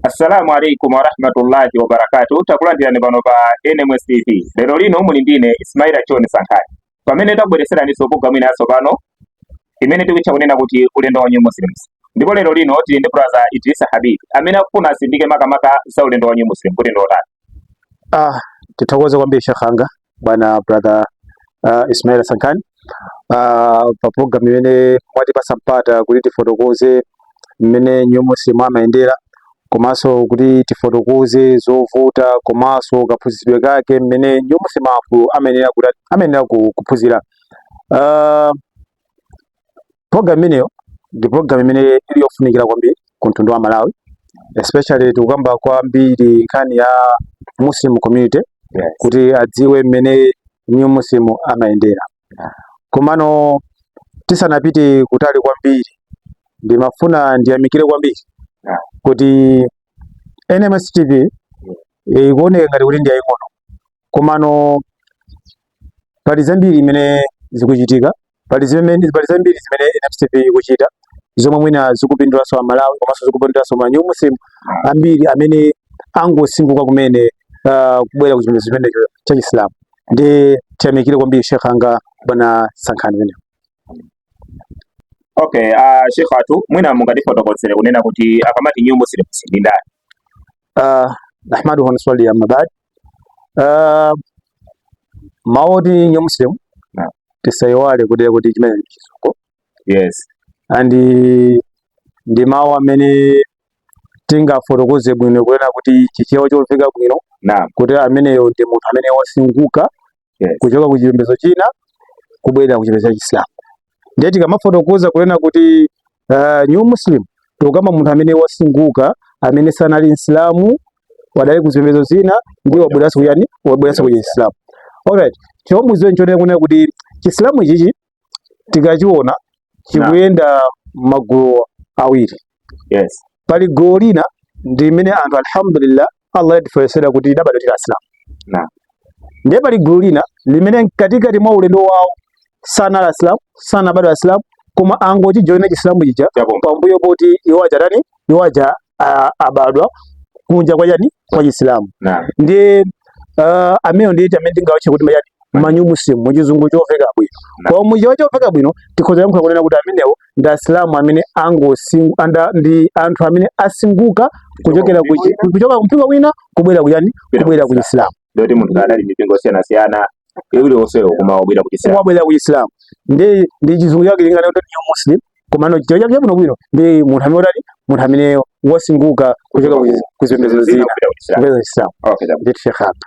Assalamu alaikum warahmatullahi wabarakatuh. Takulandirani pano pa NMS TV. Lero lino muli ndine Ismaila Choni Sankhani. Pamene tabweretseraniso programu ina yatsopano imene tikutcha kunena kuti ulendo wa New Muslims. Ndipo lero lino tili ndi brother Idrisa Habib amene akufuna asindike makamaka za ulendo wa New Muslim kuti ndi otani. Ah, tithokoze kwambiri Sheikh anga bwana brother uh, Ismail Sankhani uh, ah, pa program imene mwatipasa mpata kuti tifotokoze mmene New Muslim amayendera komanso kuti tifotokoze zovuta komanso kaphunzitsidwe kake mmene New Muslim amayenera amayenera kuphunzira uh, program imeneyo ndi program imene ili yofunikira kwambiri ku mtundu wa Malawi especially tikukamba kwambiri nkhani ya Muslim community yes. kuti adziwe mmene new Muslim amayendera yeah. komano tisanapite kutali kwambiri ndimafuna ndiyamikire kwambiri yeah. kuti NMS TV ikuoneka ngati kuti ndi yaying'ono komano pali zambiri imene zikuchitika pali zimene pali zambiri zimene NMS TV ikuchita zomwe mwina zikupindulanso a Malawi komanso zikupindulanso ma new muslim ambiri amene angosinguka kumene uh, kubwera ku chipembedzo chimenecho cha Chisilamu ndi tiyamikire kwambiri Sheikh anga bwana Sankhani pamene Okay, uh, Sheikh athu, mwina mungatifotokozere kunena kuti akamati new muslims ndi ndani? Uh, nahmaduhu wa nusalli amma ba'd. Uh, mawu oti new muslim yeah. tisaiwale kunena kuti chimene ndi chizungu yes and ndi mawu amene tingafotokoze bwino kunena kuti chichewa chomveka bwino naam kuti ameneyo ndi munthu amene wasinguka yes. kuchoka ku chipembedzo china kubwerera ku chipembedzo cha Chisilamu ndiye tikamafotokoza kunena kuti uh, new muslim tikukamba munthu amene wasinguka amene sanali msilamu adali ku zipembedzo zina ndiye wabweranso kuyani wabweranso ku Chisilamu alright choti mudziwe n'chonena kunena kuti Chisilamu ichichi tikachiona chikuyenda magulu awiri yes pali gulu lina limene anthu alhamdulillah allah watifewetsera kuti tidabadwa tili asilamu Naam. ndiye pali gulu lina limene mkatikati mwa ulendo wawo sanali asilamu sanabadwa asilamu koma angochijoyina chisilamu chija Chapomba. pambuyo poti iwo aja tani iwo aja abadwa kunja kwa yani kwa Chisilamu ndiye uh, amenewo ndiye amene tingawatche kuti ma chani ma new muslim mu chizungu chomveka bwino koma mu Chichewa chomveka bwino tikhoza kuyankhula kunena kuti amenewo ndi asilamu amene angosingu anda ndi anthu amene asinguka kuchokera kuchoka kumpingo wina kubwera kuyani kubwera ku Chisilamu ndi munthu amene adali mipingo osiyana siyana iwiri onsewo koma wabwe wabwera ku Islam ndi ndi chizungu chake malingana kuti new Muslim komano Chichewa chake chabwino bwino ndi munthu amene utali munthu amene wasinthika kuchoka ku zipembedzo zina kubwera ku Islam okay ndithu Sheikh apa